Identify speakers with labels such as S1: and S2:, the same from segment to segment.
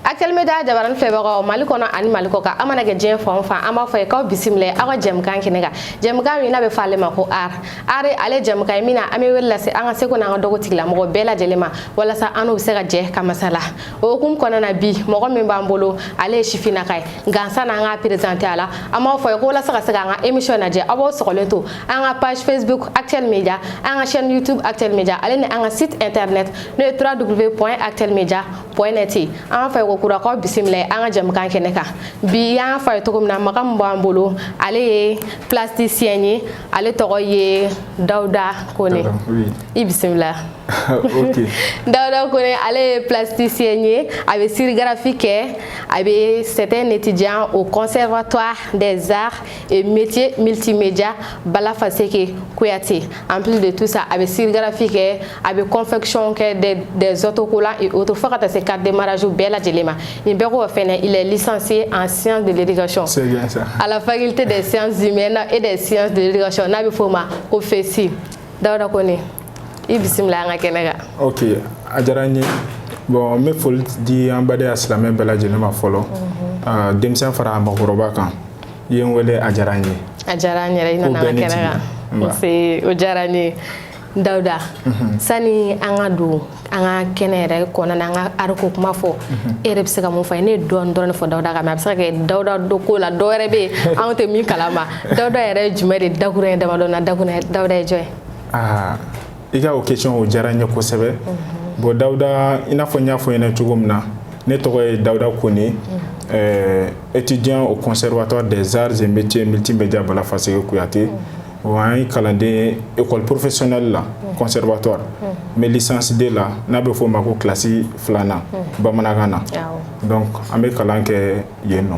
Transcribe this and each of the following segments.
S1: Actuel Media jabaran filɛbagaw Mali kɔnɔ ani Mali kɔ kan a mana kɛ diɲɛ fan o fan an b'a fɔ aw ye k'aw bisimila aw ka jɛmukan kɛnɛ kan jɛmukan min n'a bɛ fɔ ale ma ko art art ye ale jɛmukan ye min na an bɛ wele lase an ka seko n'an ka dɔnko tigilamɔgɔ bɛɛ lajɛlen ma walasa an n'u bɛ se ka jɛ ka masala o hukumu kɔnɔna na bi mɔgɔ min b'an bolo ale ye sifinnaka ye nka sanni an k'a présenter aw la an b'a fɔ aw ye ko walasa ka se k'an ka émission lajɛ aw b'aw sɔgɔlen to an ka page facebook actuel media an ka chaîne youtube actuel media ale ni an ka site internet n'o ye www actuel media point net an k'a fɔ aw ye kokura k'aw bisimila an ka jɛmukan kɛnɛ kan bi an y'a fɔ aw ye cogo min na mɔgɔ min b'an bolo ale ye plasticien ye ale tɔgɔ ye dawuda kone i bisimila
S2: dawuda
S1: kone ale ye plasticien ye a bɛ sérigraphie kɛ a bɛ c'est un étudiant au conservatoire des arts et métiers multimédia bala faseke kuyate en plus de tout ça a bɛ sérigraphie kɛ a bɛ confection kɛ des des autocollants et autres fo ka taa se carte de mariage bɛɛ lajɛlen ma nin bɛɛ kɔfɛ fɛnɛ il est licencié en sciences de l'éducation c'est bien ça à la
S2: faculté des
S1: sciences humaines et des sciences de l'éducation n'a bɛ f'o ma ko FESI Dawuda Kone i bisimila an ka kɛnɛ kan ok
S2: a diyara n ye bon n bɛ foli di an badenya silamɛ bɛɛ lajɛlen ma fɔlɔ denmisɛn fara maakɔrɔba kan i ye n wele a diyara n ye a diyara n yɛrɛ
S1: i nana an ka kɛnɛ kan nse o diyara n ye dawuda mhm. sani an ka don an ka kɛnɛ yɛrɛ kɔnɔna an ka art ko kuma fɔ mhm. e yɛrɛ bɛ se ka mun fɔ an ye ne ye dɔɔni dɔrɔn de fɔ dawuda kan mais a bɛ se ka kɛ dawuda dɔnko la dɔ wɛrɛ bɛ yen anw tɛ min kalama dawuda yɛrɛ ye jumɛn de dakurunɲɛ damadɔ na dakurun dawuda ye jɔn ye
S2: i ka o question o diyara n ye kosɛbɛ bon dawuda i n'a fɔ n y'a fɔ i ɲɛna cogo min na ne tɔgɔ ye dawuda kone euh, étudiant au conservatoire des arts et métiers multimédia bala faseke kuyate o an ye kalanden ye école professionnelle la conservatoire n bɛ licence deux la n'a bɛ fɔ o ma ko kilasi filanan bamanankan na donc an bɛ kalan kɛ yen nɔ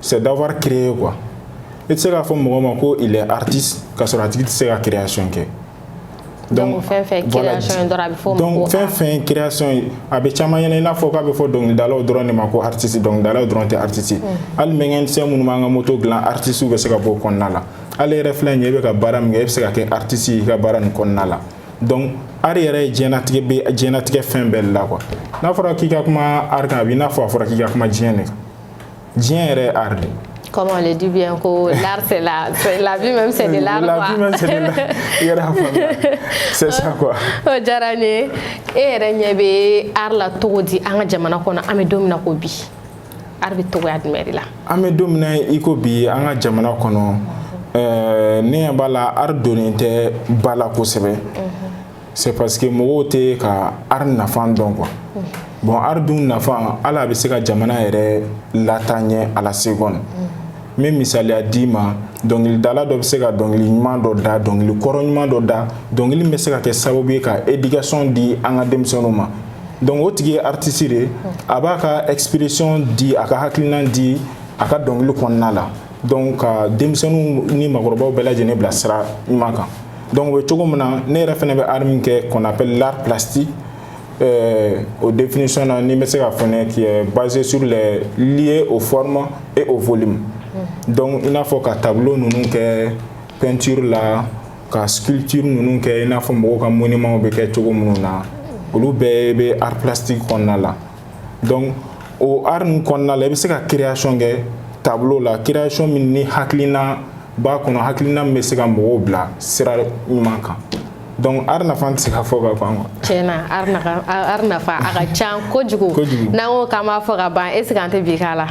S2: c'est d'avoir créé quoi i tɛ se k'a fɔ mɔgɔ ma ko il est artiste k'a sɔrɔ a tigi tɛ se ka création
S1: kɛ donc fɛn fɛn création ye dɔrɔn a bɛ fɔ donc fɛn
S2: fɛn création ye a bɛ caman ɲɛna i n'a fɔ k'a bɛ fɔ dɔnkilidalaw dɔrɔn de ma ko artiste dɔnkilidalaw dɔrɔn tɛ artiste hali mécanicien minnu b'an ka moto dilan artiste bɛ se ka bɔ o kɔnɔna la hali i yɛrɛ filɛ nin ye i bɛ ka baara min kɛ i bɛ se ka kɛ artiste ye i ka baara nin kɔnɔna la donc art yɛrɛ ye diɲɛnatigɛ bɛ diɲɛnatigɛ fɛn bɛɛ de la quoi n'a fɔra k'i ka kuma art kan a b'i n'a fɔ a fɔra k'i ka kuma diɲɛ de kan diɲɛ yɛrɛ ye art de ye comme on le dit
S1: bien ko l'art c'est la la vie même c'est de l'art quoi la vie même c'est de l'art
S2: i yɛrɛ y'a faamuya c'est ça quoi o oh, diyara n ye
S1: e yɛrɛ ɲɛ bɛ art la cogo di an ka jamana kɔnɔ an bɛ don min na ko bi art bɛ cogoya jumɛn de la an bɛ don min na i
S2: ko bi an ka jamana kɔnɔ ɛɛ ne ɲɛ b'a la art donnen tɛ ba la kosɛbɛ c'est parce que mɔgɔw tɛ ka art nafa dɔn quoi bon art dun nafa hali a bɛ se ka jamana yɛrɛ lataa ɲɛ à la seconde n bɛ misaliya d'i ma dɔnkilidala dɔ bɛ se ka dɔnkili ɲuman dɔ da dɔnkili kɔrɔ ɲuman dɔ da dɔnkili min bɛ se ka kɛ sababu ye ka éducation di an ka denmisɛnninw ma donc o tigi ye artiste de ye a b'a ka expression di a ka hakilina di a ka dɔnkili kɔnɔna la donc ka denmisɛnninw ni makɔrɔbaw bɛɛ lajɛlen bila sira ɲuman kan donc o bɛ cogo min na ne yɛrɛ fɛnɛ bɛ art min kɛ qu'on appelle l'art plastique euh, o définition na ni n bɛ se ka fɛnɛ qui est basé sur les liés aux formes et au volume mm. donc i n'a fɔ ka tableau ninnu kɛ peinture la ka sculpture ninnu kɛ i n'a fɔ mɔgɔw ka monument bɛ kɛ cogo minnu na olu bɛɛ bɛ art plastique kɔnɔna la donc o art ninnu kɔnɔna la i bɛ se ka création kɛ tableau la création min ni hakilina b'a kɔnɔ hakilina min bɛ se ka mɔgɔw bila sira ɲuman kan donc art nafa tɛ se ka fɔ ka ban quoi tiɲɛ na art nafa
S1: art nafa a ka ca kojugu kojugu n'an ko k'an b'a fɔ ka ban est ce que an tɛ bi k'a la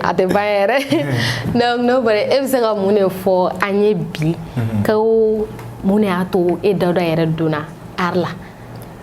S1: a tɛ ban yɛrɛ donc n'o bɔra e bɛ se ka mun de fɔ an ye bi ko mun de y'a to e dawuda yɛrɛ donna art la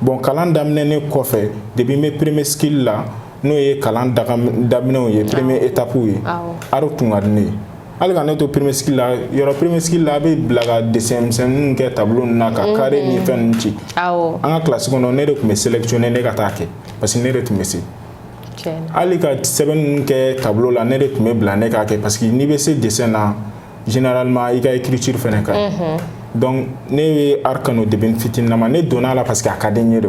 S2: bon kalan daminɛnen kɔfɛ depuis n bɛ premier cycle la n'o ye kalan daminɛw ye premier étapew ye art tun ka di ne ye hali ka ne to premier cycle la yɔrɔ premier cycle la a bɛ bila ka dessin misɛnninw kɛ tableau ninnu na ka mhm. carré ni fɛn ninnu ci an ka classe kɔnɔ ne de tun bɛ sélectionné ka t'a kɛ parce que ne de tun bɛ se hali ka sɛbɛn ninnu kɛ tableau la ne de tun bɛ bila ne k'a kɛ parce que n'i bɛ se dessin na généralement i ka écriture fɛnɛ ka ɲi donc ne ye art kanu depuis n fitininama ne donn'a la parce que a ka di n ye de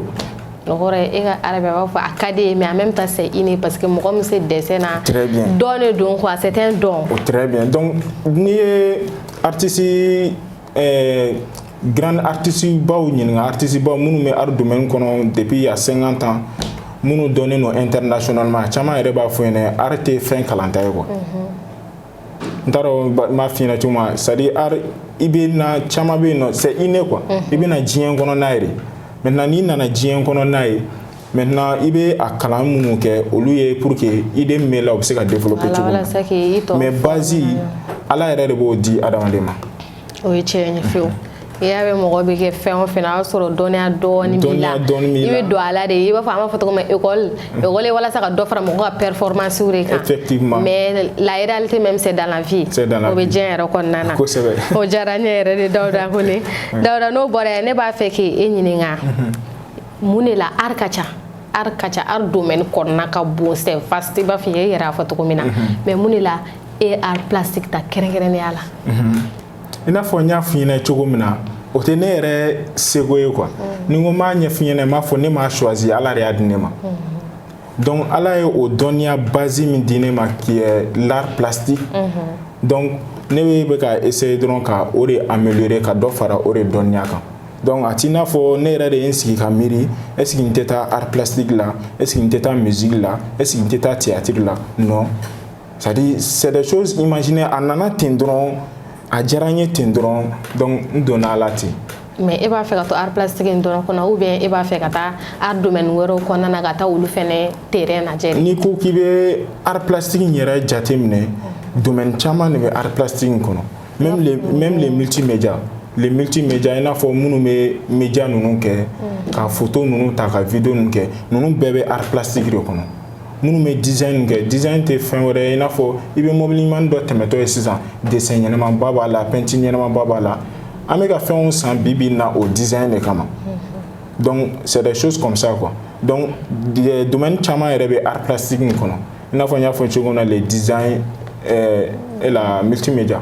S2: o kɔrɔ ye e
S1: ka art bɛ a b'a fɔ a ka d'i ye mais en même temps c'est inné parce que mɔgɔ min se dessin na très bien don de
S2: don quoi c'est
S1: un don o très bien
S2: donc n'i ye artiste euh, grand artiste baw ɲininka artiste baw minnu bɛ art domaine kɔnɔ depuis il y a 50 ans minnu dɔnnen don internationalement caman yɛrɛ b'a f'i ɲɛna art tɛ fɛn kalanta ye quoi mm -hmm. n t'a dɔn n b'a f'i ɲɛna cogo min c'est à dire art i bɛ na caman bɛ yen nɔ c'est inné quoi mhm. i bɛ na diɲɛ kɔnɔ n'a ye de maintenant n'i nana diɲɛ kɔnɔ n'a ye maintenant i bɛ a kalan minnu kɛ olu ye pour que idée min b'e la o bɛ se ka développer cogo min mais base ala yɛrɛ de b'o di adamaden ma. o ye tiɲɛ
S1: ye fiyewu i y'a mɛn mɔgɔ bɛ kɛ fɛn o fɛn na o y'a sɔrɔ dɔnniya dɔɔni b'i la i bɛ don a la de i b'a fɔ an b'a fɔ cogo min école école ye walasa ka dɔ fara mɔgɔ ka performance de kan effectivement mais
S2: la réalité
S1: même c'est dans la vie o bɛ diɲɛ yɛrɛ kɔnɔna na kosɛbɛ o diyara n
S2: ye yɛrɛ
S1: de Dawuda Kone Dawuda n'o bɔra yen ne b'a fɛ k'e ɲininka mun de la art ka ca art ka ca art domaine kɔnɔna ka bon c'est vaste i b'a fɔ i yɛrɛ y'a fɔ cogo min na mais mun de la e art plastique ta kɛrɛnkɛrɛnnenya la i n'a
S2: fɔ n y'a f'i ɲɛna cogo min na o tɛ ne yɛrɛ seko ye quoi mm. ni n ko n b'a ɲɛf'i ɲɛna n b'a fɔ ne m'a choisi ala de y'a di ne ma mm-hmm. donc ala ye o dɔnniya base min di ne ma qui est l'art plastique mm-hmm. donc ne bɛ bɛ ka essayer dɔrɔn ka o de améliorer ka dɔ fara o de dɔnniya kan donc a t'i n'a fɔ ne yɛrɛ de ye n sigi ka miiri est ce que n tɛ taa art plastique la est ce que n tɛ taa musique la est ce que n tɛ taa théâtre la non c'est à dire c'est des choses imaginer a nana ten dɔrɔn a diyara n ye ten dɔrɔn donc n donna a la ten mais e b'a fɛ ka
S1: to art plastique in dɔrɔn kɔnɔ ou bien e b'a fɛ ka taa art domaine wɛrɛw kɔnɔna na ka taa olu fɛnɛ terrain lajɛ n'i ko k'i bɛ
S2: art plastique in yɛrɛ jate minɛ domaine caman de bɛ art plastique in kɔnɔ même les même les multimédia les multimédia i n'a fɔ minnu bɛ média ninnu kɛ ka photo ninnu ta ka vidéo ninnu kɛ ninnu bɛɛ bɛ art plastique de kɔnɔ minnu bɛ design kɛ design tɛ fɛn wɛrɛ ye i n'a fɔ i bɛ mobili ɲuman dɔ tɛmɛtɔ ye sisan dessin ɲɛnamaba b'a la peinture ɲɛnamaba b'a la an bɛ ka fɛnw san bi bi na o design de kama donc c'est des choses comme ça quoi donc euh, domaine caman yɛrɛ bɛ art plastique in kɔnɔ i n'a fɔ n y'a fɔ cogo min na le design euh, et la multimédia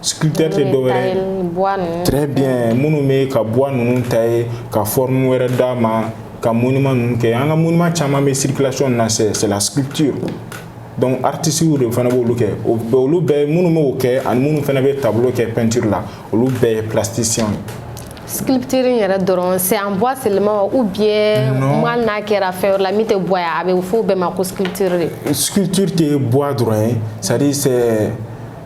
S2: sculpteur tɛ dɔwɛrɛ très bien minnu bɛ ka bois ninnu tailler ka forme wɛrɛ d'a ma ka monument ninnu kɛ an ka monument caman bɛ circulation na c'est c'est la sculpture donc artistes de fana b'olu kɛ o bɛɛ olu bɛɛ minnu bɛ o kɛ ani minnu fana bɛ tableau kɛ peinture la olu bɛɛ ye plasticien ye.
S1: sculpture yɛrɛ dɔrɔn c'est en bois seulement ou bien hali n'a kɛra fɛn wɛrɛ la min tɛ bois ye a bɛ fɔ o bɛɛ ma ko sculpture de. sculpture tɛ
S2: bois dɔrɔn ye c'est à dire c'est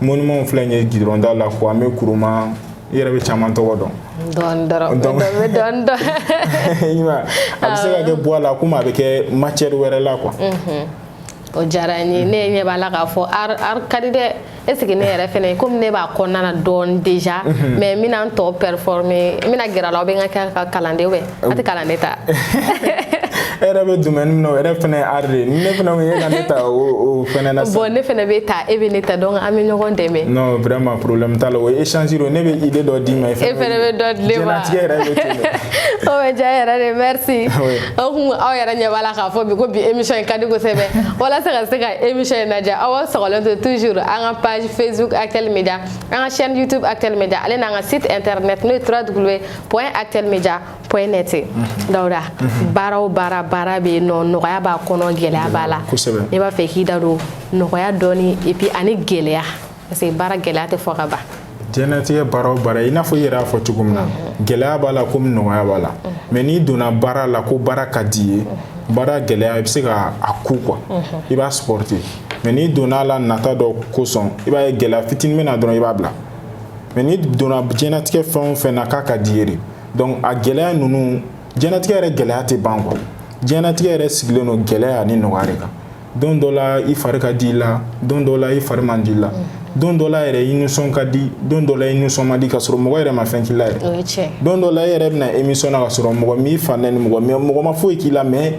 S2: monument filɛ nin ye goudron da la kwame nkrumah i yɛrɛ bɛ caman tɔgɔ dɔn
S1: donc a bɛ
S2: se ka kɛ bois la komi a bɛ kɛ matière wɛrɛ la quoi mhm.
S1: o diyara n ye ne ɲɛ b'a la k'a fɔ art art ka di dɛ est ce que ne yɛrɛ fɛnɛ komi ne b'a kɔnɔna na dɔɔni déjà mhm. mais n bɛna n tɔ performer n bɛna gɛrɛ a la aw bɛ n ka kɛ ka kalanden a tɛ kalanden
S2: ta e yɛrɛ bɛ domaine min na o yɛrɛ fana ye art de ye ni ne fana ko e ka ne ta o fana na sisan bon ne fɛnɛ bɛ ta
S1: e bɛ ne ta donc an bɛ ɲɔgɔn dɛmɛ non vraiment problème
S2: t'a la o ye échange de ye ne bɛ idée dɔ d'i ma e fana bɛ dɔ di ne ma
S1: jɛnatigɛ yɛrɛ bɛ
S2: ten de o bɛ diya
S1: yɛrɛ de merci beaucoup aw yɛrɛ ɲɛ b'a la k'a fɔ bi ko bi émission in ka di kosɛbɛ walasa ka se ka émission in lajɛ aw sɔgɔlen to toujours an ka page facebook actuel media an ka chaîne youtube actuel media ale n'an ka site internet n'o ye www point actuel media point net Dawuda baara o baara baara bɛ yen nɔ nɔgɔya b'a kɔnɔ gɛlɛya b'a la ne b'a fɛ k'i da don nɔgɔya dɔɔni et puis ani gɛlɛya parce que baara gɛlɛya tɛ fɔ ka ban diɲɛlatigɛ baara
S2: o baara i n'a fɔ i yɛrɛ y'a fɔ cogo min na gɛlɛya b'a la komi nɔgɔya b'a la mais n'i donna baara la ko baara ka d'i ye baara gɛlɛya i bɛ se ka a ku quoi i b'a supporter mais n'i donna a la nata dɔ kosɔn i b'a ye gɛlɛya fitinin bɛ na dɔrɔn i b'a bila mais n'i donna jɛnatigɛ fɛn o fɛn na k'a ka d'i ye de donc a gɛlɛya ninnu jɛnatigɛ yɛrɛ gɛlɛya tɛ ban quoi jɛnatigɛ yɛrɛ sigilen don gɛlɛya ani nɔgɔya de kan don dɔ la i fari ka di i la don dɔ la i fari man di i la don dɔ la yɛrɛ i nisɔn ka di don dɔ la i nisɔn man di ka sɔrɔ mɔgɔ yɛrɛ ma fɛn k'i la yɛrɛ don dɔ la i yɛrɛ bɛ na émission na ka sɔrɔ mɔgɔ m'i fa nɛni mɔgɔ mɔgɔ ma foyi k'i la mais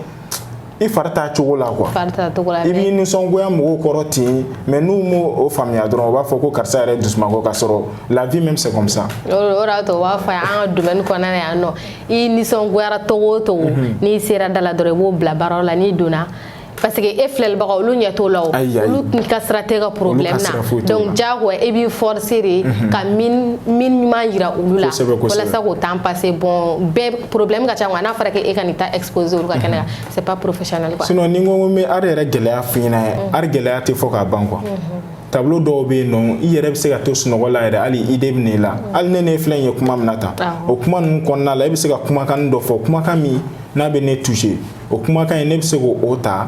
S2: i fari t'a cogo la quoi i b'i nisɔngoya mɔgɔw kɔrɔ ten mais n'u m'o o faamuya dɔrɔn u b'a fɔ ko karisa yɛrɛ dusumango ka sɔrɔ la vie même c'est comme ça o de y'a to u b'a
S1: fɔ an ka domaine kɔnɔna na yan nɔ i nisɔngoyara cogo o cogo mhm. n'i sera da la dɔrɔn i b'o bila baara la n'i donna parce que e filɛlibaga olu ɲɛ t'o la o olu ka sira t'e ka problème na donc diyagoya e b'i forcer de mhm. ka mine ɲuman jira olu la walasa k'o temps passer bon bɛɛ problème ka ca n'a fɔra k'e ka nin ta exposer olu ka kɛnɛ kan c'est pas professionnel quoi sinon ni n ko n bɛ art yɛrɛ
S2: gɛlɛya f'i ɲɛna art gɛlɛya tɛ fɔ ka ban quoi tableau dɔw bɛ yen nɔ i yɛrɛ bɛ se ka to sunɔgɔ la yɛrɛ hali idée bɛ n'i la hali ne ne filɛ nin ye kuma min na tan o kuma ninnu kɔnɔna la e bɛ se ka kumakan dɔ fɔ kumakan min n'a bɛ ne toucher o kumakan in ne bɛ se k'o ta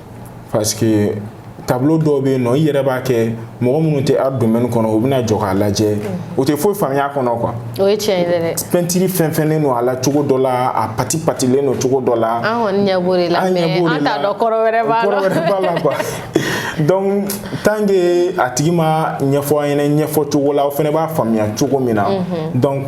S2: parce que tableau dɔw bɛ yen nɔ i yɛrɛ b'a kɛ mɔgɔ minnu tɛ art domaine kɔnɔ u bɛna jɔ k'a lajɛ o tɛ foyi faamuya a kɔnɔ quoi. o ye tiɲɛ ye dɛ.
S1: pɛntiri fɛnfɛnnen
S2: don a la cogo dɔ la a pati patilen don cogo dɔ la. an kɔni ɲɛ b'o de
S1: la mais an t'a dɔn kɔrɔ wɛrɛ b'a la. kɔrɔ wɛrɛ b'a la
S2: quoi. donc tant que a tigi m'a ɲɛfɔ an ɲɛna ɲɛfɔ cogo la aw fɛnɛ b'a faamuya cogo min na donc.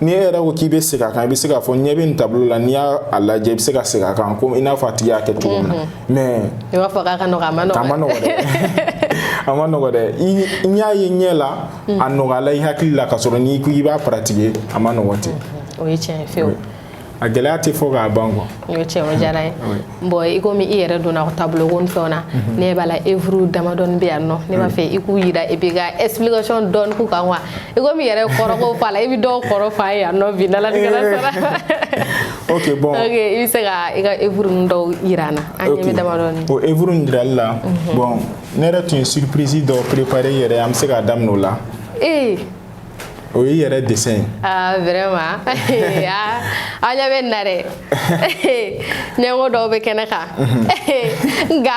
S2: ni e yɛrɛ ko k'i bɛ segin a kan i bɛ se k'a fɔ ɲɛ bɛ nin tableau la n'i y'a lajɛ i bɛ se ka segin a kan komi i n'a fɔ a tigi y'a kɛ cogo min na mm-hmm. mais i b'a fɔ k'a ka nɔgɔ
S1: a ma nɔgɔ. a ma nɔgɔ dɛ
S2: a ma nɔgɔ dɛ i y'a ye ɲɛ la mm. a nɔgɔyala i hakili la ka sɔrɔ n'i ko i b'a pratiquer a ma nɔgɔ ten. Mm-hmm. o ye tiɲɛ ye fewu.
S1: a gɛlɛya
S2: tɛ fɔ k'a ban quoi o ye tiɲɛ o diyara n
S1: ye bon i komi i yɛrɛ donna tableau ko ni fɛnw na mhm. ne b'a la œuvre damadɔni bɛ yan nɔ ne b'a fɛ i k'u jira et puis ka explication dɔɔni k'u kan quoi i komi i yɛrɛ kɔrɔ ko fɔ a la i bɛ dɔw kɔrɔ fɔ an ye yan nɔ bi n'Alatigɛla sɔnna
S2: ok bon ok i bɛ se ka
S1: i ka œuvre ninnu dɔw jira an na an ɲɛ bɛ damadɔni o œuvre ninnu jirali la
S2: mhm. bon ne yɛrɛ tun ye surprise dɔ préparer yɛrɛ an bɛ se k'a daminɛ o la ee o y'i yɛrɛ dessin ye. aa ah, vraiment
S1: aa aw ɲɛ bɛ nin na dɛ ɲɛngo dɔw bɛ kɛnɛ kan nka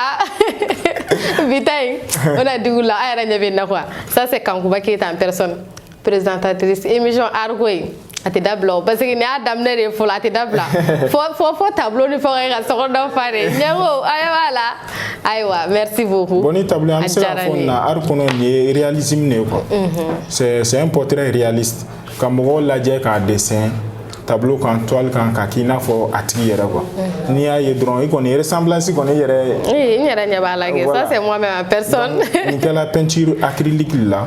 S1: bi ta in o na digi u la aw yɛrɛ ɲɛ bɛ nin na quoi ça c'est Kankuba Keyita en personne présentatrice émission Arko in. a tɛ dabila o parce que nin y'a daminɛ de ye fɔlɔ a tɛ dabila fo fo fo tableau ni fɛnw ye ka so kɔnɔ fa de ɲɛ ko an ɲɛ b'a la ayiwa merci beaucoup. bon nin tableau an bɛ se k'a
S2: fɔ nin na art kɔnɔ nin ye réalisme de ye quoi. c'est c'est un portrait réaliste ka mɔgɔ lajɛ k'a dessin tableau kan toile kan k'a k'i n'a fɔ a tigi yɛrɛ quoi n'i y'a ye dɔrɔn i kɔni ressemblance kɔni i yɛrɛ. ee n yɛrɛ ɲɛ b'a la
S1: kɛ ça c'est moi-même en personne. nin kɛla peinture
S2: acrylique la.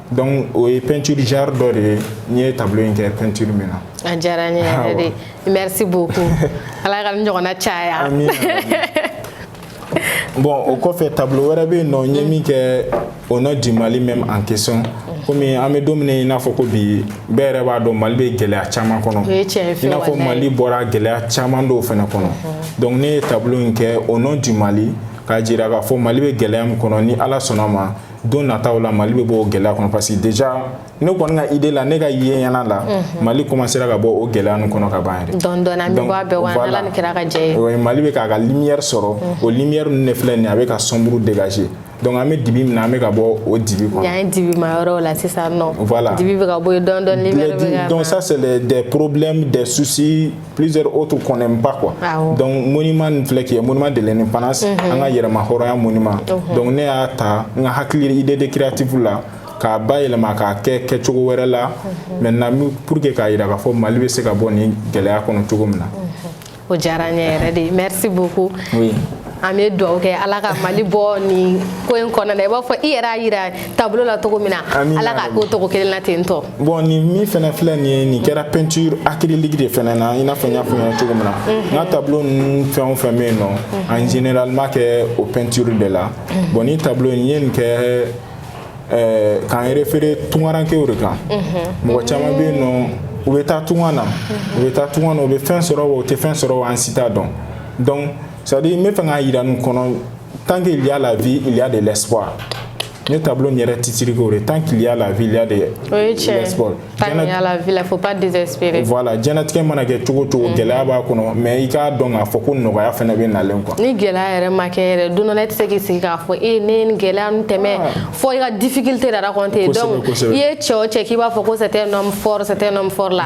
S2: donc o ye peinture genre dɔ de ye n ye tableau in kɛ peinture min na a diyara n ye
S1: yɛrɛ de merci beaucoup ala ka nin ɲɔgɔnna caya
S2: bon o kɔfɛ tableau wɛrɛ bɛ yen nɔ n ye min kɛ au nom du mali même en question komi an bɛ don min i n'a fɔ ko bi bɛɛ yɛrɛ b'a dɔn mali bɛ gɛlɛya caman kɔnɔ i n'a fɔ mali bɔra gɛlɛya caman dɔw fɛnɛ kɔnɔ donc ne ye tableau in kɛ au nom du mali k'a jira k'a fɔ mali bɛ gɛlɛya min kɔnɔ ni ala sɔnna ma don nataw la mali bɛ bɔ o gɛlɛya kɔnɔ parce que déjà ne kɔni ka idée la ne ka ye ɲɛna la mali commencera ka bɔ o gɛlɛya ninnu kɔnɔ ka ban yɛrɛ dɔɔni dɔɔni an bɛ bɔ a bɛɛ
S1: kɔnɔ n'ala ni kira ka jɛn ye oui mali bɛ k'a ka lumière
S2: sɔrɔ o lumière ninnu de filɛ nin ye a bɛ ka sombre dégager donc an bɛ dibi min na an bɛ ka bɔ o dibi kɔnɔ yan ye dibima yɔrɔ la
S1: sisan nɔ voilà dibi bɛ ka bɔ yen
S2: dɔɔni
S1: dɔɔni lumière bɛ ka na donc ça c'est des
S2: problèmes des soucis plusieurs autres qu'on n'aime pas quoi. Ah oh. Donc monument nin filɛ k'i ye monument de l'indépendance mm -hmm. an ka yɛrɛmahɔrɔnya monument. Mm -hmm. Donc ne y'a ta n ka hakili idée de créative la k'a bayɛlɛma k'a kɛ kɛcogo wɛrɛ la mm -hmm. maintenant pour que k'a yira k'a fɔ Mali bɛ se ka bɔ nin gɛlɛya kɔnɔ cogo min na. Mm -hmm. O
S1: diyara n ye yɛrɛ de merci beaucoup. Oui.
S2: an bɛ
S1: dugawu kɛ ala ka mali bɔ nin ko in kɔnɔna na i b'a fɔ i yɛrɛ y'a yira tableau la cogo min na ala k'a k'o cogo kelen na ten tɔ bon nin min
S2: fɛnɛ filɛ nin ye nin kɛra peinture acrylique de fɛnɛ na i n'a fɔ n y'a fɔ ɲɛna cogo min na n ka tableau ninnu fɛn o fɛn bɛ yen nɔ en général n b'a kɛ o peinture de la bon nin tableau in n ye nin kɛ eh, k'an référé tungarankew de kan mɔgɔ caman bɛ yen nɔ u bɛ taa tunga na u bɛ taa tunga na u bɛ fɛn sɔrɔ wa u tɛ fɛn sɔrɔ wa an si t'a dɔn donc c'est à dire n bɛ fɛ k'a jira nin kɔnɔ tant qu'il y a la vie il y a de l'espoir Ne tableau in yɛrɛ titre k'o de tant qu'il y a la vie il y a de l'espoir o ye tiɲɛ ye tant qu'il y a
S1: la vie il faut pas désespérer voilà diɲɛlatigɛ mana
S2: kɛ cogo o cogo gɛlɛya b'a kɔnɔ mais i k'a dɔn k'a fɔ ko nɔgɔya fɛnɛ bɛ nalen quoi ni gɛlɛya yɛrɛ ma
S1: kɛ yɛrɛ don dɔ la i tɛ se k'i sigi k'a fɔ e ne ye nin gɛlɛya ninnu tɛmɛ fo i ka difficulté de raconter donc i ye cɛ o cɛ k'i b'a fɔ ko c'est un homme fort c'est un homme fort la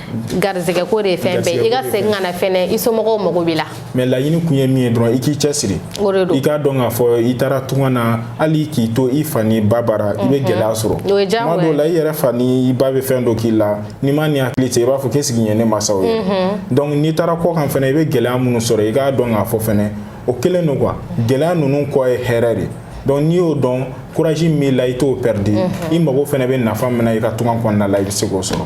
S1: garizɛgɛ ko de ye fɛn bɛɛ i ka segin ka na fɛnɛ i somɔgɔw mago b'i la mais laɲini kun
S2: ye min ye dɔrɔn i k'i cɛsiri o de don i k'a dɔn k'a fɔ i taara tunga na hali k'i to i fa n'i ba bara i bɛ gɛlɛya sɔrɔ o ye diyagoya tuma dɔw la i yɛrɛ fa ni i ba bɛ fɛn dɔ k'i la n'i ma ni hakili cɛ i b'a fɔ k'est-ce que nin ye ne masaw ye donc n'i taara kɔkan fɛnɛ i bɛ gɛlɛya minnu sɔrɔ i k'a dɔn k'a fɔ fɛnɛ o kelen don quoi gɛlɛya ninnu kɔ ye hɛrɛ de donc n'i y'o dɔn courage min b'i la i t'o perdre i mago fɛnɛ bɛ nafa min na i ka tunga kɔnɔna la i bɛ se k'o sɔrɔ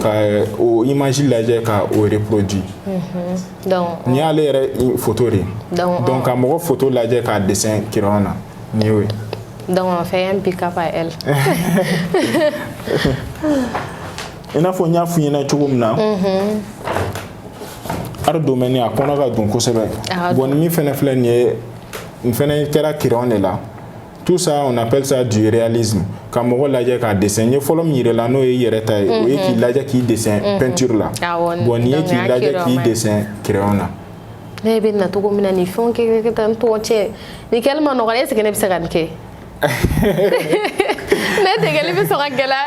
S2: ka o image lajɛ ka o
S1: reproduit nin y'ale
S2: yɛrɛ photo de donc ka mɔgɔ photo lajɛ k'a dessin crayon na nin y'o ye donc on fait
S1: un pick up à elle
S2: i n'a fɔ n y'a f'i ɲɛna cogo min na art domaine a kɔnɔ ka dun kosɛbɛ bon nin min fɛnɛ filɛ nin ye nin fɛnɛ kɛra crayon de la tout ça on appelle ça du réalisme ka mɔgɔ lajɛ k'a dessin n ye fɔlɔ min yir'i la n'o ye i yɛrɛ ta ye o ye k'i lajɛ k'i dessin peinture la bon nin ye k'i lajɛ k'i dessin crayon na ne bɛ
S1: na cogo min na nin fɛnw kɛ kɛ tan n tɔgɔ cɛ nin kɛli man nɔgɔ est ce que ne bɛ se ka nin kɛ ne degeli bɛ sɔn ka gɛlɛya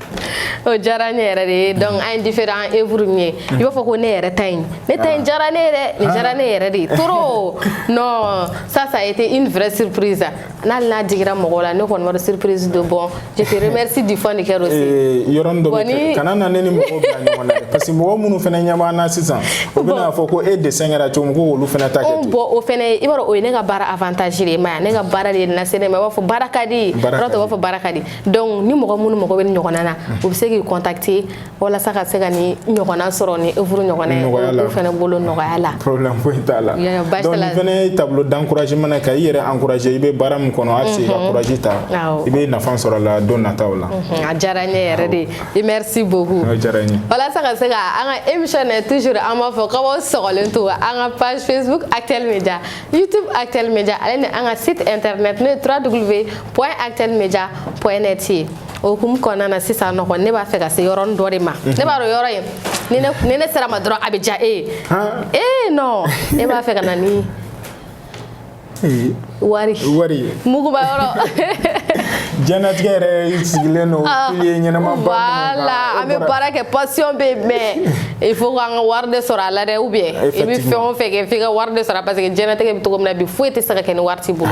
S1: o diyara ne yɛrɛ de ye donc an ye différent œuvre min ye i b'a fɔ ko ne yɛrɛ ta in ne ta in diyara ne ye dɛ nin diyara ne yɛrɛ de ye trop non ça ça a été une vraie surprise n'ale n'a digira mɔgɔw la ne kɔni b'a dɔn surprise don bon je te remercie du fond du cœur aussi Eh, yɔrɔnin dɔ Bon, bɛ ni- kɛ
S2: kana na ne ni mɔgɔw bila ɲɔgɔn na dɛ parce que mɔgɔ minnu fana ɲɛ b'an na sisan u bɛn'a fɔ ko e dessin kɛra cogo min ko olu fana ta kɛ o ten bon o fɛnɛ ye i b'a dɔn
S1: o ye ne ka baara avantage de ye i m'a ye ne ka baara de y'i lase ne ma i b'a fɔ baara ka di Baara ka yɔrɔ tɔw b'a di. fɔ baara ka di donc ni mɔgɔ minnu mago bɛ nin ɲɔgɔnna na u bɛ se k'i contacter walasa ka se ka nin ɲɔgɔnna sɔrɔ nin œuvre ɲɔgɔnna ye olu fana bolo nɔgɔya la problème foyi t'a la
S2: donc nin fana ye tableau d'encouragement ye ka i yɛrɛ encourager i bɛ baara min kɔnɔ hali i ka courage ta i bɛ nafa sɔrɔ a la don nataw la a diyara n ye
S1: yɛrɛ de i merci beaucoup a diyara n ye
S2: walasa ka se ka an
S1: ka émission na toujours an b'a fɔ k'aw sɔgɔlen to an ka page Facebook Actuel Media YouTube Actuel Media ale ni an ka site internet n'o ye www point Actuel Media point net ye o hukumu kɔnɔna na sisan nɔgɔ ne b'a fɛ ka se yɔrɔnin dɔ de ma mhm. ne b'a dɔn yɔrɔ in ni ne ni ne sera a ma dɔrɔn a bɛ diya e ye ee non ne b'a fɛ ka na ni wari wari muguba
S2: yɔrɔ diɲɛnatigɛ yɛrɛ sigilen don ah, pilier ɲɛnama ba voilà an bɛ
S1: baara kɛ passion bɛ yen mais il faut k'an ka wari de sɔrɔ a la dɛ ou bien i bɛ fɛn o fɛn kɛ f'i ka wari de sɔrɔ parce que diɲɛnatigɛ bɛ cogo min na bi foyi tɛ se ka kɛ ni wari t'i bolo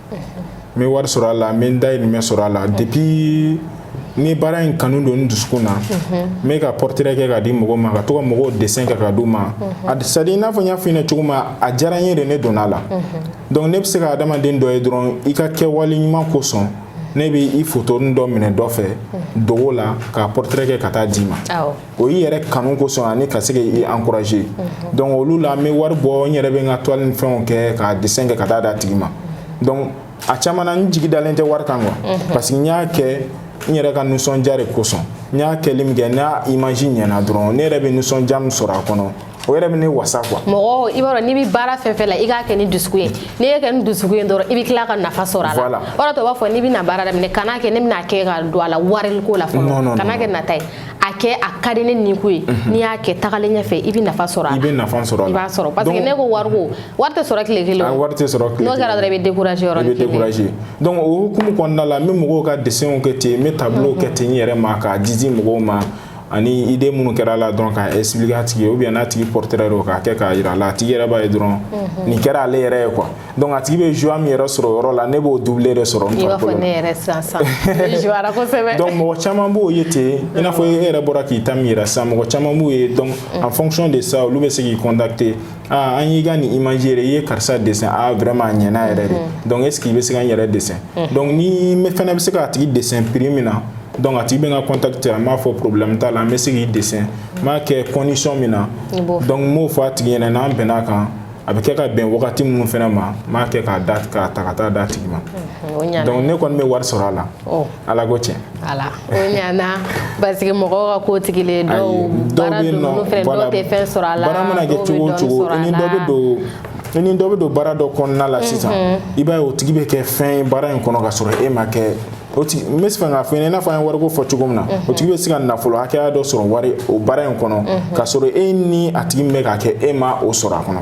S2: n bɛ wari sɔrɔ a la n bɛ n dayirimɛ sɔrɔ a la depuis nin baara in kanu don n dusukun na n bɛ ka portrait kɛ ka di mɔgɔw ma ka to ka mɔgɔw dessin kɛ ka d'u ma a c'est à dire i n'a fɔ n y'a f'i ɲɛna cogo min a diyara n ye de ne donna a la donc ne bɛ se ka adamaden dɔ ye dɔrɔn i ka kɛwale ɲuman kosɔn ne bɛ i photonin dɔ minɛ dɔ fɛ dogo la k'a portrait kɛ ka taa d'i ma. o y'i yɛrɛ kanu kosɔn ani ka se k'i encourager mhm. donc olu la n bɛ wari bɔ n yɛrɛ bɛ n ka toile ni fɛnw kɛ k'a dessin kɛ ka taa d'a tigi ma donc a caman na n jigi dalen tɛ wari kan quoi mhm. parce que n y'a kɛ n yɛrɛ ka nisɔndiya de kosɔn n y'a kɛli min kɛ n'a image ɲɛna dɔrɔn ne yɛrɛ bɛ nisɔndiya min sɔrɔ a kɔnɔ o yɛrɛ bɛ ne wasa quoi mɔgɔ i b'a dɔn n'i
S1: bɛ baara fɛn fɛn la i k'a kɛ ni dusukun ye n'i y'a kɛ ni dusukun ye dɔrɔn i bɛ tila ka nafa sɔrɔ a la o de la u b'a fɔ n'i bɛna baara daminɛ kana kɛ ne bɛna kɛ ka don a la wariko la fɔlɔ kana kɛ nata ye a kɛ a ka di ne nin ko ye mhm. n'i y'a kɛ tagalen ɲɛfɛ i bɛ nafa sɔrɔ a la i bɛ nafa sɔrɔ a la i
S2: b'a sɔrɔ parce que n'i
S1: ko wariko wari tɛ sɔrɔ tile kelen o wari tɛ sɔrɔ tile kelen n'o
S2: kɛra dɔrɔn i bɛ décourager yɔrɔ
S1: i bɛ décourager donc o
S2: hukumu kɔnɔna la n bɛ mɔgɔw ka dessinw kɛ ten n bɛ tableau kɛ ten n yɛrɛ ma k'a di mɔgɔw ma ani idée minnu kɛra a la dɔrɔn k'a expliquer a tigi ye ou bien n'a tigi portrait don k'a kɛ k'a jira a la a tigi yɛrɛ b'a ye dɔrɔn mhm. nin kɛra ale yɛrɛ ye quoi donc a tigi bɛ joie min yɛrɛ sɔrɔ o yɔrɔ la ne b'o double de sɔrɔ n
S1: farikolo la donc mɔgɔ caman
S2: b'o ye ten i n'a fɔ e yɛrɛ bɔra k'i ta min yira sisan mɔgɔ caman b'o ye donc en fonction de ça olu bɛ se k'i contacter aa an y'i ka nin image yɛrɛ i ye karisa dessin a vraiment a ɲɛna yɛrɛ de mhm. donc est ce que i bɛ se ka n yɛrɛ dessin mhm. donc ni n fana bɛ se k'a tigi dessin prix min na donc a tigi bɛ n contacter n b'a fɔ problème t'a la n bɛ se k'i dessin n b'a kɛ condition min na donc n b'o fɔ a tigi ɲɛna n'an bɛnna a kan a bɛ kɛ ka bɛn wagati minnu fana ma n b'a kɛ k'a ta ka taa d'a tigi ma mhm, donc ne kɔni bɛ wari sɔrɔ a la. ala ko tiɲɛ ala o
S1: ɲana parce que mɔgɔw ka ko tigilen dɔw baara don olu fɛnɛ dɔw tɛ fɛn sɔrɔ a la baara mana kɛ cogo o cogo
S2: i ni dɔ bɛ don baara dɔ kɔnɔna la sisan i b'a ye o tigi bɛ kɛ fɛn ye baara in kɔnɔ ka sɔrɔ e ma kɛ o tigi n bɛ fɛ k'a fɔ i ɲɛna i n'a fɔ an ye wariko fɔ cogo min na o tigi bɛ se ka nafolo hakɛya dɔ sɔrɔ wari o baara in kɔnɔ ka sɔrɔ e ni a tigi min bɛ k'a kɛ e ma o sɔrɔ a kɔnɔ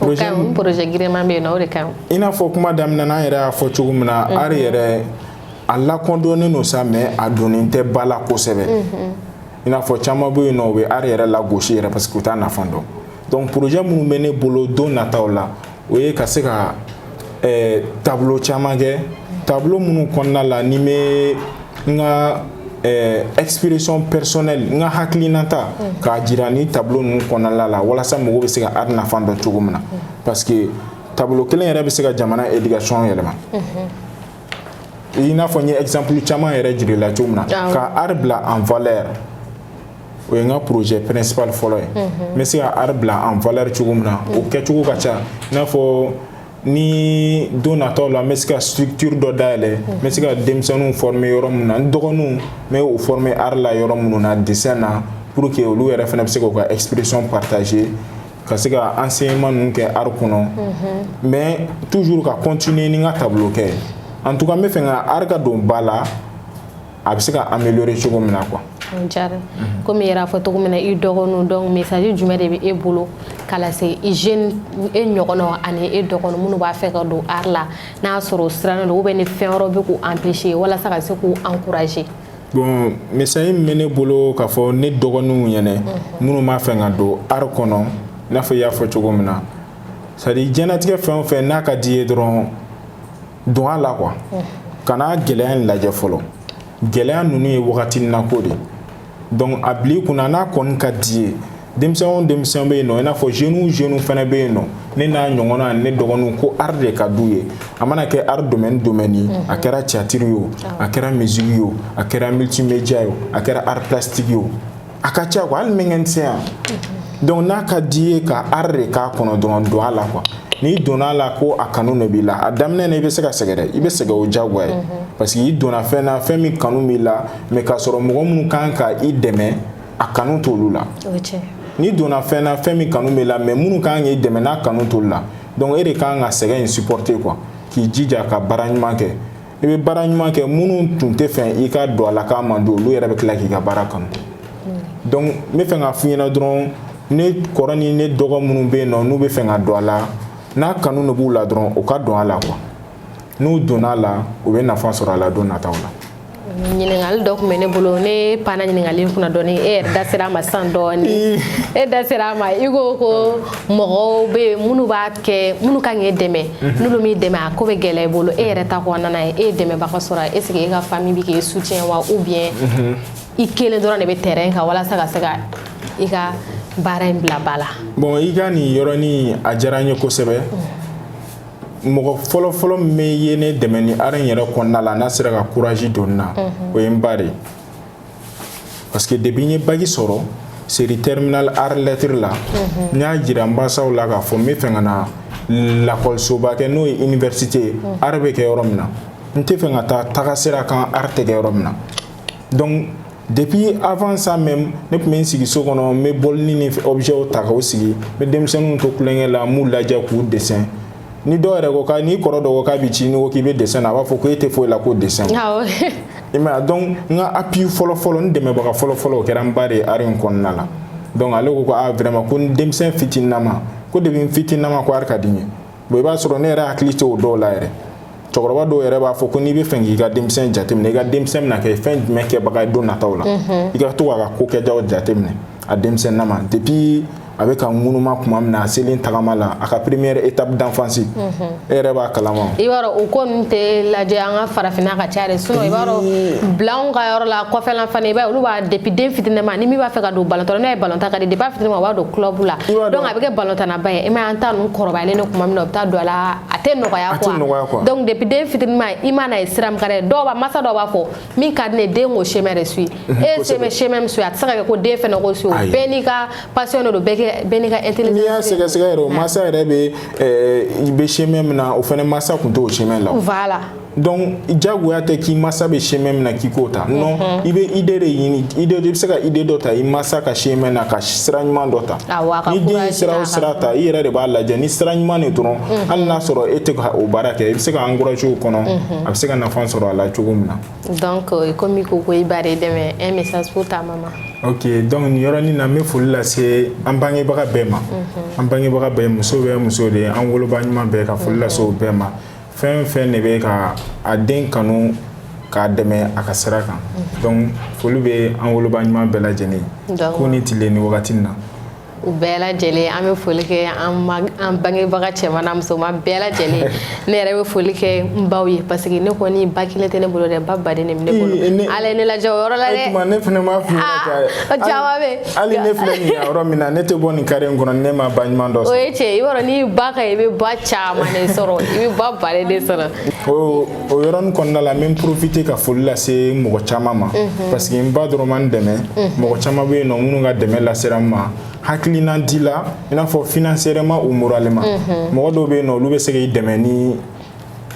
S2: O ka
S1: ɲi projet giriman bɛ yen nɔ o de ka ɲi i n'a fɔ kuma
S2: daminɛ na an yɛrɛ y'a fɔ cogo min na mhm. art yɛrɛ a lakɔdɔnnen don sa mais a donnen tɛ ba la kosɛbɛ mhm. i n'a fɔ caman bɛ yen nɔ u bɛ art yɛrɛ lagosi yɛrɛ parce que u t'a nafa dɔn donc projet minnu bɛ ne bolo don nataw la o ye ka se ka ɛɛ tableau caman kɛ tableau minnu kɔnɔna la ne bɛ n ka ɛɛ expression personnelle n ka hakilinata k'a jira nin tableau ninnu kɔnɔna la walasa mɔgɔw bɛ se ka art nafa dɔn cogo min na parce que tableau kelen yɛrɛ bɛ se ka jamana éducation yɛlɛma. i n'a fɔ n ye exemple caman yɛrɛ jir'i la cogo min na ka art bila en valeur o ye n ka projet principal fɔlɔ ye n bɛ se ka art bila en valeur cogo min na o kɛcogo ka ca i n'a fɔ ni don nataw la n bɛ se ka structure dɔ dayɛlɛ n bɛ se ka denmisɛnninw former yɔrɔ min na n dɔgɔninw n bɛ o former art la yɔrɔ minnu na dessin na pour que olu yɛrɛ fana bɛ se k'u ka expression partager ka se ka enseignement ninnu kɛ art kɔnɔ mais toujours ka continuer ni n ka tableau kɛ en tout cas n bɛ fɛ ka art ka don ba la a bɛ se ka améliorer cogo min na quoi o diyara mhm.
S1: komi i yɛrɛ fɔ cogo min na i dɔgɔninw donc message jumɛn de bɛ e bolo ka lase i jeune e ɲɔgɔnnaw ani e dɔgɔnin minnu b'a fɛ ka don art la n'a y'a sɔrɔ u sirannen don ou bien ni fɛn wɛrɛw bɛ k'u empêcher walasa ka se k'u encourager bon
S2: message min bɛ ne bolo k'a fɔ ne dɔgɔninw ɲɛna mhm. minnu b'a fɛ ka don art kɔnɔ i n'a fɔ i y'a fɔ cogo min na c'est à dire diɲɛnatigɛ fɛn o fɛn n'a ka d'i ye dɔrɔn don a la quoi kana gɛlɛya in lajɛ fɔlɔ gɛlɛya ninnu ye wagatinin na ko de donc a bil'i kunna n'a kɔni ka d'i ye denmisɛn o denmisɛn bɛ yen nɔ i n'a fɔ jeune o jeune fana bɛ yen nɔ ne n'a ɲɔgɔnna ani ne dɔgɔnin ko art de ka d'u ye a mana kɛ art domaine o domaine ye a kɛra théâtre ye o a kɛra musique ye o a kɛra multimédia ye o a kɛra art plastique ye a ka ca quoi hali mécanicien donc n'a ka d'i ye ka art de k'a kɔnɔ dɔrɔn don a la quoi n'i donna a la ko a kanu de b'i la a daminɛ na i bɛ se ka sɛgɛn dɛ i bɛ sɛgɛn o diyagoya ye parce que i donna fɛn na fɛn min kanu b'i la mais k'a sɔrɔ mɔgɔ minnu kan ka i dɛmɛ a kanu t'olu la n'i donna fɛn na fɛn min kanu b'i la mais minnu kan k'i dɛmɛ n'a kanu t'olu la donc e de kan ka sɛgɛn in supporter quoi k'i jija ka baara ɲuman kɛ i bɛ baara ɲuman kɛ minnu tun tɛ fɛ i ka don a la k'a man di olu yɛrɛ bɛ tila k'i ka baara kanu donc n bɛ fɛ k'a f'i ɲɛna dɔrɔn ne kɔrɔ ni ne dɔgɔ minnu bɛ yen nɔ n'u bɛ fɛ ka don a la n'a kanu de b'u la dɔrɔn u ka don a la quoi n'u donna a la u bɛ nafa sɔrɔ a la don nataw la.
S1: ɲininkali dɔ tun bɛ ne bolo ne panna ɲininkali in kunna dɔɔni e yɛrɛ da sera a ma sisan dɔɔni e da sera a ma i ko ko mɔgɔw bɛ yen minnu b'a kɛ minnu ka kan k'e dɛmɛ mhm. n'olu m'i dɛmɛ a ko bɛ gɛlɛya i bolo e yɛrɛ ta kɔnɔna na e ye dɛmɛbaga sɔrɔ est ce que e ka famille bɛ k'e soutien wa ou bien mhm. i kelen dɔrɔn de bɛ terrain kan walasa ka se ka i ka baara in bila ba la. bon i ka
S2: nin yɔrɔnin a diyara n ye kosɛbɛ. Mhm. mɔgɔ fɔlɔfɔlɔ min ye ne dɛmɛ ni art in yɛrɛ kɔnɔna la n'a sera ka courage don n na o ye n ba de ye. parce que depuis n ye bac sɔrɔ série terminale art lettre la mhm. n y'a jira n basaw la k'a fɔ n bɛ fɛ ka na lakɔlisoba kɛ n'o ye université ye mhm. art bɛ kɛ yɔrɔ min na n tɛ fɛ ka taa taga sira kan art tɛ kɛ yɔrɔ min na donc depuis avant ça même ne tun bɛ n sigi so kɔnɔ n bɛ bɔlini ni objets ta k'o sigi n bɛ denmisɛnninw to kulonkɛ la n b'u lajɛ k'u dessin ni dɔw yɛrɛ ko ka n'i kɔrɔ dɔ ko k'a b'i ci n'i ko k'i bɛ dessin na a b'a fɔ ko e tɛ foyi la ko dessin i m'a ye donc n ka appui fɔlɔ fɔlɔ n dɛmɛbaga fɔlɔ fɔlɔ o kɛra n ba de ye art in kɔnɔna la donc ale ko ko a vraiment ko n denmisɛn fitininama ko depuis n fitininama ko art ka di n ye bon i b'a sɔrɔ ne yɛrɛ hakili tɛ o dɔw la yɛrɛ cɛkɔrɔba dɔw yɛrɛ b'a fɔ ko n'i b'a fɛ k'i ka denmisɛn jateminɛ i ka denmisɛn bɛna kɛ fɛn jumɛn kɛbaga ye don nataw la mhm. i ka to k'a ka ko kɛtaw jateminɛ a denmisɛnnama depuis a bɛ ka ŋunuma tuma min na a selen tagama la a ka première étape d'enfance mhm. e yɛrɛ b'a kalama i b'a dɔn o ko
S1: ninnu tɛ lajɛ an ka farafinna ka ca de sinon i b'a dɔn bilanw ka yɔrɔ la kɔfɛla fana i b'a ye olu b'a depuis den fitininama ni min b'a fɛ ka don balontan na n'a ye balontan ka di depuis a fitininama o b'a don club la donc a bɛ kɛ balontannaba ye i m'a ye an ta ninnu kɔrɔbayalen don tuma min na u bɛ taa don a la a tɛ nɔgɔya quoi donc depuis den fitininma i man'a ye sira min ka d'a ye dɔw b'a masa dɔw b'a fɔ min ka di ne den k'o chemin de suit e ye chemin chemin min suit a tɛ se ka kɛ ko den fana k'o suit bɛɛ n'i ka passion de don bɛɛ n'i ka intelligence n'i y'a sɛgɛsɛgɛ yɛrɛ
S2: o masa yɛrɛ bɛ bɛ chemin min na o fana masa tun t'o chemin la voilà
S1: donc
S2: diyagoya tɛ k'i masa bɛ chemin min na k'i k'o ta non mhm. i bɛ idée de ɲini idée i bɛ se ka idée dɔ ta i masa ka chemin na ka sira ɲuman dɔ ta ni den ye sira o sira ta i yɛrɛ de b'a lajɛ ni sira ɲuman de dɔrɔn mhm. hali n'a sɔrɔ e tɛ ka o baara kɛ i bɛ se k'a encourager o kɔnɔ mhm. a bɛ se ka nafa sɔrɔ a la cogo min na donc euh,
S1: komi i ko i ba de dɛmɛ un message pour ta maman ok donc
S2: nin yɔrɔnin na n bɛ foli lase an bangebaga bɛɛ ma an bangebaga bɛɛ muso bɛɛ muso de ye an woloba ɲuman bɛɛ ka foli lase o bɛɛ ma fɛn fɛn de bɛ ka a den kanu k'a dɛmɛ a ka sira kan mhm. donc foli bɛ an woloba ɲuman bɛɛ lajɛlen ko ni tile ni wagati na u
S1: bɛɛ lajɛlen an bɛ foli kɛ an bangebaga cɛman n'a musoman bɛɛ lajɛlen ne yɛrɛ bɛ foli kɛ n baw ye parce que ne kɔni ba kelen tɛ ne bolo dɛ ba baden de bɛ ne bolo ala ye ne lajɛ o yɔrɔ la dɛ ne fana m'a f'i ɲɛna
S2: ah, caman bɛ yen
S1: hali ne filɛ nin
S2: yɔrɔ min na ne tɛ bɔ nin carré in kɔnɔ ne ma ba ɲuman dɔ sɔrɔ o ye tiɲɛ ye i b'a dɔn
S1: n'i ba ka i bɛ ba caman de sɔrɔ i bɛ ba baden de sɔrɔ o o
S2: yɔrɔnin kɔnɔna la n bɛ n profiter ka foli lase mɔgɔ caman ma mhm. parce que n ba dɔrɔn ma n dɛmɛ mhm. mɔgɔ caman bɛ yen nɔ minnu ka dɛmɛ lasera n ma hakilina di la i n'a fɔ financièrement ou moralement mhm. mɔgɔ dɔw bɛ yen nɔ olu bɛ se k'i dɛmɛ ni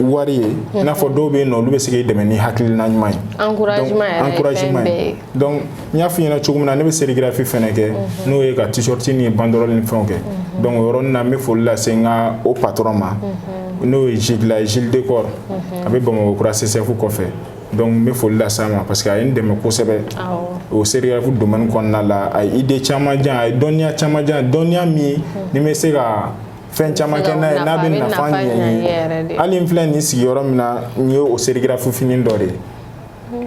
S2: wari ye i n'a fɔ dɔw bɛ yen nɔ olu bɛ se k'i dɛmɛ ni hakilina ɲuman ye encouragement ye donc n y'a f'i ɲɛna cogo min na ne bɛ sérigraphie fɛnɛ kɛ n'o ye ka t-shirt ni banderole ni fɛnw kɛ donc o yɔrɔnin na n bɛ foli lase n ka o patron ma n'o ye Gilles Gilles Decor a bɛ Bamakɔ kura CCF kɔfɛ donc n bɛ foli lase a ma parce que a ye n dɛmɛ kosɛbɛ o sérigraphie domaine kɔnɔna la a ye idée caman di yan a ye dɔnniya caman di yan dɔnniya min ni n bɛ se ka fɛn caman kɛ n'a ye n'a bɛ nafa ɲɛ n ye hali n filɛ nin sigiyɔrɔ min na nin ye o sérigraphie fini dɔ de ye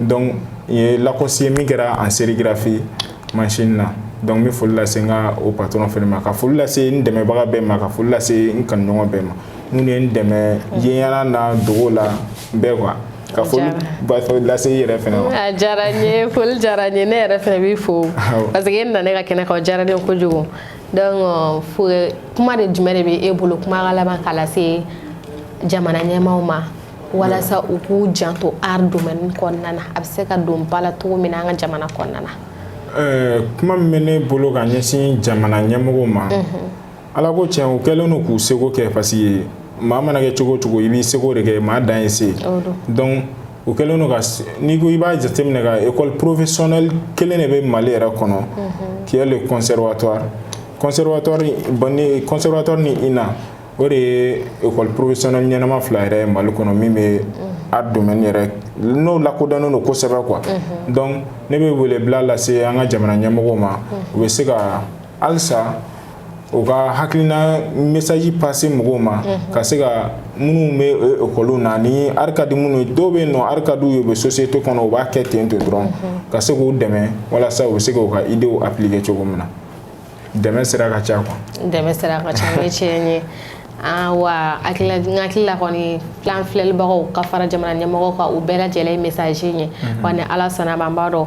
S2: donc nin ye Lacoste ye min kɛra an sérigraphie machine na donc n bɛ foli lase n ka o patron fɛnɛ ma ka foli lase n dɛmɛbaga bɛɛ ma ka foli lase n kanuɲɔgɔn bɛɛ ma minnu ye n dɛmɛ yeɲɛna n'a dogo la bɛɛ quoi ka foliba fɛ lase i yɛrɛ fɛnɛ ma a diyara n ye foli
S1: diyara n ye ne yɛrɛ fɛnɛ b'i fo parce que e nana ne ka kɛnɛ kan o diyara ne ye kojugu donc kuma de jumɛn de bɛ e bolo kuma ka laban k'a lase jamana ɲɛmaaw ma walasa u k'u janto art domaine kɔnɔna na a bɛ se ka don ba la cogo min na an ka jamana kɔnɔna na eh, kuma min bɛ
S2: ne bolo ka ɲɛsin jamana ɲɛmɔgɔw ma ala ko tiɲɛ u kɛlen don k'u seko kɛ parce que maa mana kɛ cogo o cogo i b'i seko de kɛ maa dan ye se donc u kɛlen don ka n'i ko i b'a jateminɛ ka école professionnelle kelen de bɛ Mali yɛrɛ kɔnɔ qui est le conservatoire conservatoire ni INA o de ye école professionnelle ɲɛnama fila yɛrɛ ye Mali kɔnɔ min bɛ art domaine yɛrɛ n'o lakodɔnnen don kosɛbɛ quoi donc ne bɛ welebila lase an ka jamana ɲɛmɔgɔw ma u bɛ se ka halisa u ka hakilina message passer mɔgɔw ma ka se ka minnu bɛ ekɔliw na ni art ka di minnu ye dɔw bɛ yen nɔ art ka d'u ye u bɛ société kɔnɔ u b'a kɛ ten ten dɔrɔn ka se k'u dɛmɛ walasa u bɛ se k'u ka idées appliquer cogo min na dɛmɛ sira ka ca quoi dɛmɛ sira ka ca o
S1: ye tiɲɛ ye Ah, wa hakilila n hakili la kɔni b'a la an filɛlibagaw ka fara jamana ɲɛmɔgɔw kan u bɛɛ lajɛlen ye message ye wa ni ala sɔnn'a ma an b'a dɔn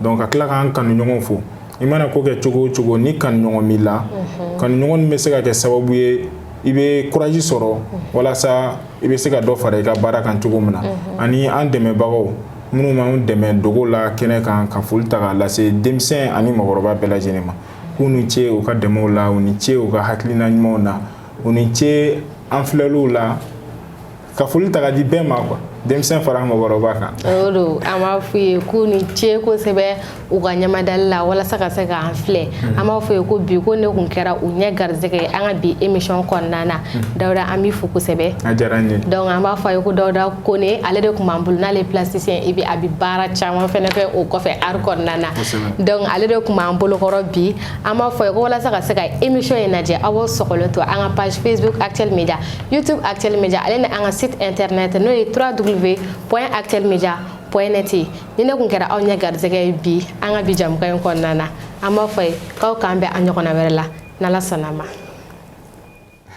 S2: donc ka tila k'an kanuɲɔgɔnw fo i mana ko kɛ cogo o cogo ni kanuɲɔgɔn b'i la kanuɲɔgɔn in bɛ se ka kɛ sababu ye i bɛ courage sɔrɔ walasa i bɛ se ka dɔ fara i ka baara kan cogo min na ani an dɛmɛbagaw minnu b'an dɛmɛ dogo la kɛnɛ kan ka foli ta k'a lase denmisɛn ani mɔgɔkɔrɔba bɛɛ lajɛlen ma k'u ni ce u ka dɛmɛw la u ni ce u ka hakilina ɲumanw na u ni ce an filɛliw la ka foli ta ka di bɛɛ ma quoi denmisɛn fara mɔgɔkɔrɔba kan o don an
S1: b'a f'u ye k'u ni ce kosɛbɛ u ka ɲamadali la walasa ka se k'an filɛ an b'a f'u ye ko bi ko ne kun kɛra u ɲɛ garisɛgɛ ye an ka bi émission kɔnɔna na dawuda an b'i fo kosɛbɛ a diyara n ye
S2: donc an b'a fɔ a ye ko
S1: dawuda kone ale de kun b'an bolo n'ale plasticien et puis a bɛ baara caman fɛnɛ kɛ o kɔfɛ art kɔnɔna na donc ale de kun b'an bolokɔrɔ bi an b'a fɔ a ye ko walasa ka se ka émission in lajɛ aw b'aw sɔgɔlen to an ka page facebook actuel media YouTube Actuel Media ale ni an ka site internet n'o ye www.actuelmedia.net ye ni ne kun kɛra aw ɲɛ garisɛgɛ ye bi an ka bi jamukan in kɔnɔna na an b'a fɔ a ye k'aw k'an bɛn a ɲɔgɔnna wɛrɛ la n'ala sɔnn'a ma